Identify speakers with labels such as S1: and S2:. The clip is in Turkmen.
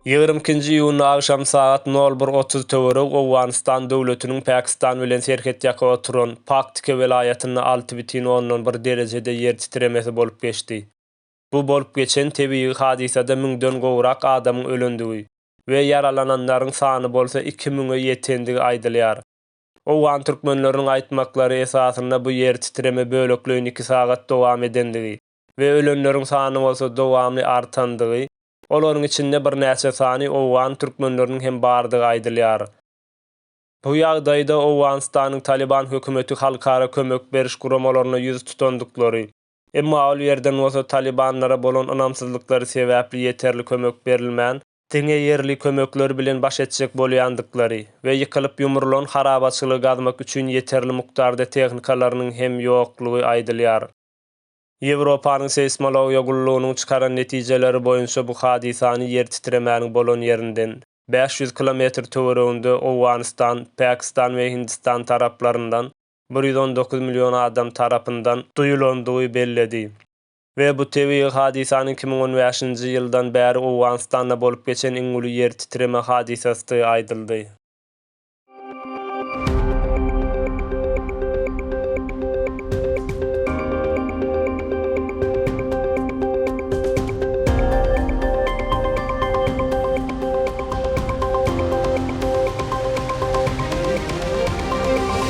S1: Ýigrimi ikinji iýunda agşam sagat nol bir otuz töweregi Owganystan döwletiniň Pakistan bilen serhetýaka oturan Paktika welaýatynda alty bütin ondan bir derejede ýer titremesi bolup geçdi. Bu bolup geçen tebigy hadysada müňden gowrak adamyň ölendigi we ýaralananlaryň sany bolsa iki müňe ýetendigi aýdylýar. Owgan türkmenleriniň aýtmaklary esasynda bu ýer titreme bölekleýin iki sagat dowam edendigi we ölenleriň sany bolsa dowamly artandygy, olaryň içinde birnäçe sany owgan türkmenleriniň hem bardygy aýdylýar. Bu ýagdaýda Owganystanyň Talyban hökümeti halkara kömek beriş guramalaryna ýüz tutandyklary, Emma ol ýerden bolsa talybanlara bolan ynamsyzlyklary sebäpli ýeterli kömek berilmän, diňe ýerli kömekler bilen baş etjek bolýandyklary we ýykylyp-ýumrulan harabaçylygy gazmak üçin ýeterli mukdarda tehnikalarynyň hem ýoklugy aýdylýar. Ýewropanyň seýsmologiýa gullugynyň çykaran netijeleri boýunça bu hadysany ýer titremäniň bolan ýerinden bäş ýüz kilometr töwereginde Owganystan, Pakistan we Hindistan taraplaryndan bir ýüz on dokuz million adam tarapyndan duýulandygy belledi we bu tebigy hadysanyň iki müň on bäşinji ýyldan bäri Owganystanda bolup geçen iň uly ýer titreme hadysasdygy aýdyldy.